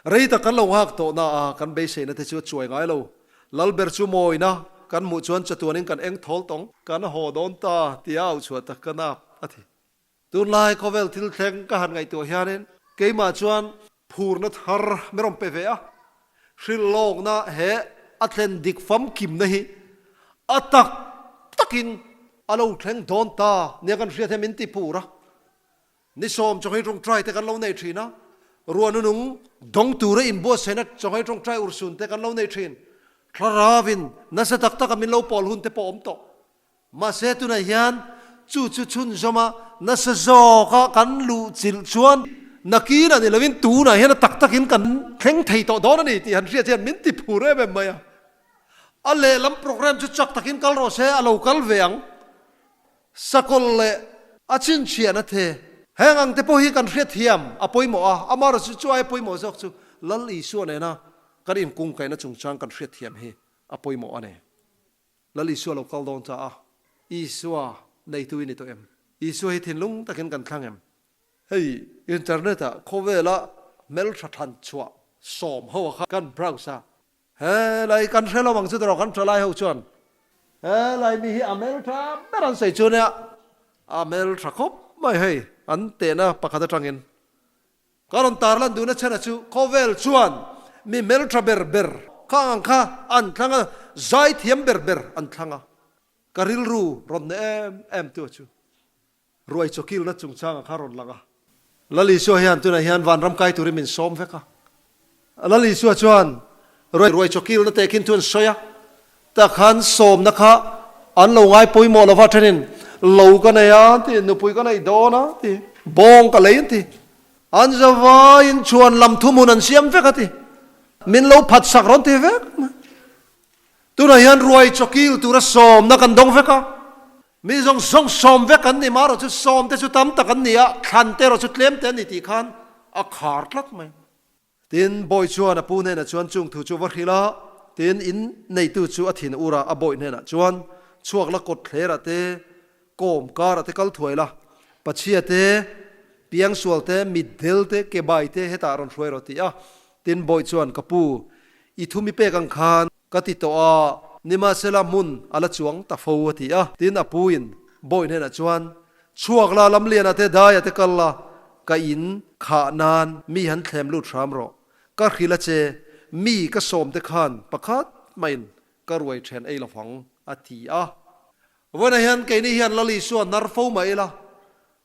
Rei tak kan lo nghak tawh naah kan beiseina te chu a chuai ngai lo. Lal ber chu mawina kan hmuh chuan chatuanin kan eng thawl tawng. Kan haw dawn ta tia au chhuah tak ka nak a ti. Tunlai khawvel thil thleng ka han ngaihtuah hianin keimah chuan phurna thar min rawn pe ve a. Hril lawkna he a thlen dik famkimna hi a tak takin a lo thleng dawn ta nia kan hriat hian min ti pur a. Ni sawm chawnghei tawng try te kan lo nei thin a, ruah nunung dawng tura inbuatsaihna chawnghei tawng try ursun te kan lo nei thin. Thlarauin nasa tak taka min lo pawl hun te pawh awm tawh. Mahse tunah hian chu chu chhunzawma nasa zawka kan luhchilh chuan nakin a ni lo in tunah hian a tak takin kan thleng thei tawh dawn a ni tih han hriat hian min ti phur em em mai a. A lehlam programme chu chak takin kal rawh se a lo kal ve ang. Sakawlh leh a chhinchhiah na the. Heng ang te pawh hi kan hrethiam a pawimawh a, amarawh chu chu ai pawimawh zawk chu Lal Isua nena kan inkungkaihna chungchang kan hrethiam hi a pawimawh a ni. Lal Isua lo kal dawn ta a, Isua neitu i ni tawh em? Isua hi thinlung takin kan thlang em? Hei internet-ah khawvela hmeltha than chhuah sawm ho kha kan browse a, He lai kan hre lo ang chu tawrh kan tra lai ho chuan he lai mi hi a hmel tha ber an sawi chu nia a hmel tha khawp mai hei an tehna pakhat atangin ka rawn tar lan dun a chhena chu khawvel chuan mi hmel tha ber ber kha ang kha an thlang a zai thiam ber ber an thlang a ka rilru rawn hne em em tu chu Ruai chawkilna chungchanga kha rawn lang a. Lal Isua hian tunah hian vanram kai turin min sawm vek a. Lal Isua chuan ruai chawkilna te khin thu an sawi a, tah khan sawmna kha an lo ngai pawimawh lova thenin lo ka nei a an ti, nupui ka nei dawn a an ti, bawng ka lei an ti. An zavaiin chhuan lam thumun an siam vek a ti. Min lo phatsak rawn ti vek mai. Tunah hian ruai chawkil tura sawmna kan dawng vek a, Mi zawng zawng sawm vek an ni, marawh chu sawm te chu tam tak an ni a, thlan te erawh chu tlem te an ni tih khan a khar tlat mai. Tin, Bawiih chuan a pu hnenah chuan chung thu chu va hrilh a, tin, in neitu chu a thin ur a, a bawiih hnenah chuan chhuak la kawt thlerah te, kawm karah te kal thuai la, pachhia te, piang sual te, mitdel te, kebai te hetah rawn hruai rawh tih a, tin, Bawiih chuan ka pu, i thu mi pek ang khan, Ka ti tawh a, nimahsela hmun a la chuang ta fo a ti a. Tin a pu in Bawiin hnenah chuan, Chhuak la, Lamliana te, Daia te kal la, ka in khah nan mi han thlem lut hram rawh. Ka hrilh a che, mi ka sawm te khan pakhat hmain ka ruai ṭhen ei lovang, a ti a. Vawiinah hian keini hian Lali chu a nar fo mah ila,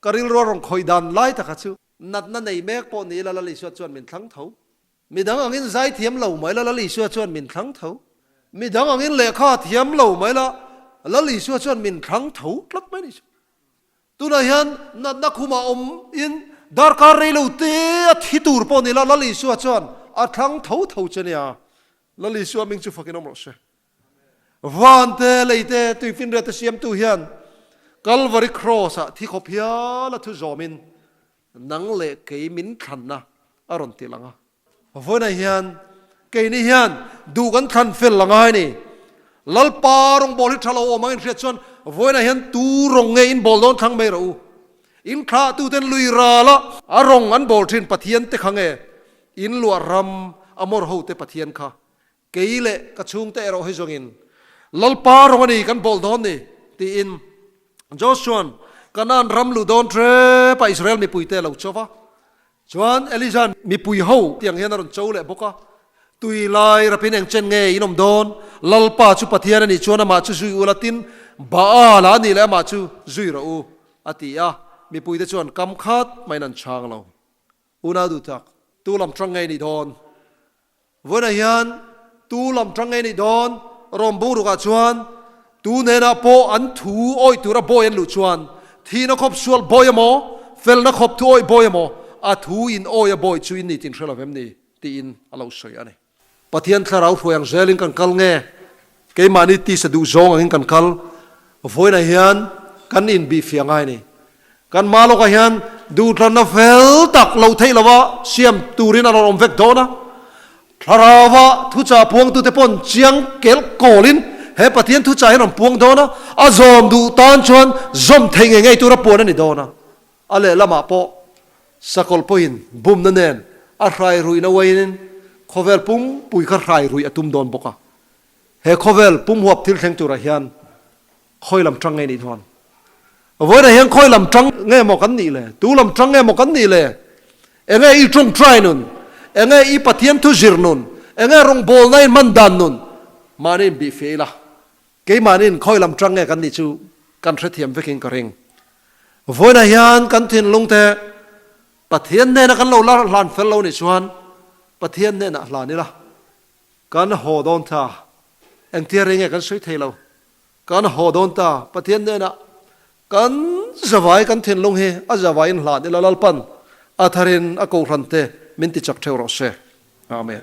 ka rilrual rawn khawih dan lai taka chu natna nei mek pawh ni ila Lali chu a chuan min thlang tho. Midang angin zai thiam lo mai la Lal Isua chuan min thlang tho. Midang angin lehkha thiam lo mai la Lal Isua chuan min thlang tho tlat mai ni chu. Tunah hian natna khumah awmin darkar rei lo te a thi tur pawh ni la Lal Isua chuan a thlang tho tho che nia. Lal Isua hming chu fakin awm rawh se. Van te lei te tui finriate siamtu hian Calvary Cross-ah thi khawp hial a thu zawmin, Nang leh kei min thlan a, a rawn ti lang a. Vawiinah hian, Kei ni hian duh kan thlan fel ang a hai ni. Lalpa rawngbâwl hi tha lo awm angin hriat chuan vawiinah hian tu rawn nge in bâwl dawn thlang mai rawh u. In thlahtuten lui ral a. A rawn an bâwl ṭhin Pathian te kha nge in luah ram a mawr ho te Pathian kha Kei leh ka chhungte erawh hi zawngin Lalpa rawng a ni kan bawlh dawn ni, tiin Joshua'n Kanaan ram luh dawn rep a Israel mipuite a lo chauh va. Chuan Elijah'n Mipui ho tiang hian a rawn chauh leh bawk a, Tui lai rapin engchen nge in awm dawn? Lalpa chu Pathian a nih chuan amah chu zui ula, tin Baal-a nih leh amah chu zui rawh u, a ti a. Mipuite chuan kam khat hma in an chhang lo. Unau duhtak, tu lam ṭang nge i nih dawn? Vawiinah hian tu lam ṭang ngei neih dawn, Rome bungrukah chuan tu hnenah pawh an thu awih tur a bawi an luh chuan, thihna khawp sual bawi emaw, felna khawp thu awih bawi emaw, a thu in awi a bawi chu in ni tin hre lo em ni? tiin a lo sawi a ni. Pathian thlarau hruai ang zelin kan kal nge Keimahni tisa duh zawng angin kan kal, vawiinah hian kan inbihfiah ngai ni. Kan hma lawkah hian duhthlanna fel tak lo theih lova siam turin a rawn awm vek dawn a. Thlarauva thuchah puangtute pawh an chiang kel kawlin he Pathian thuchah hi an rawn puang dawn a, a zawm duh tan chuan zawm theih ngei ngei tura puan a ni dawn a. A lehlamah pawh sakawlh pawhin bumna nen a hrairuihna uaihin khawvel pumpuii kha hrairuih a tum dawn bawk a. He khawvel pumhuap thil thleng turah hian khawi lam ṭang nge nih hnuan? Vawiinah hian khawi lam ṭang nge maw kan nih le? Tu lam ṭang nge maw kan nih le? Enge i ṭawngṭai nun? Enge i Pathian thu zir nun? Enge rawngbawlna in hman dan nun? Mahni in bih feh ila. Keimahniin khawi lam ṭang nge kan nih chu kan hrethiam vekin ka ring. Vawiinah hian kan thinlungte Pathian hnena kan lo la hlan fel lo nih chuan Pathian hnenah hlan ila. Kan haw dawn ta, engtia rei nge kan sawi thei lo. Kan haw dawn ta, Pathian nena kan zavai kan thinlung hi a zavai in hlan ila Lalpan a thar in a kohhran te min ti chak theu rawh se. Amen.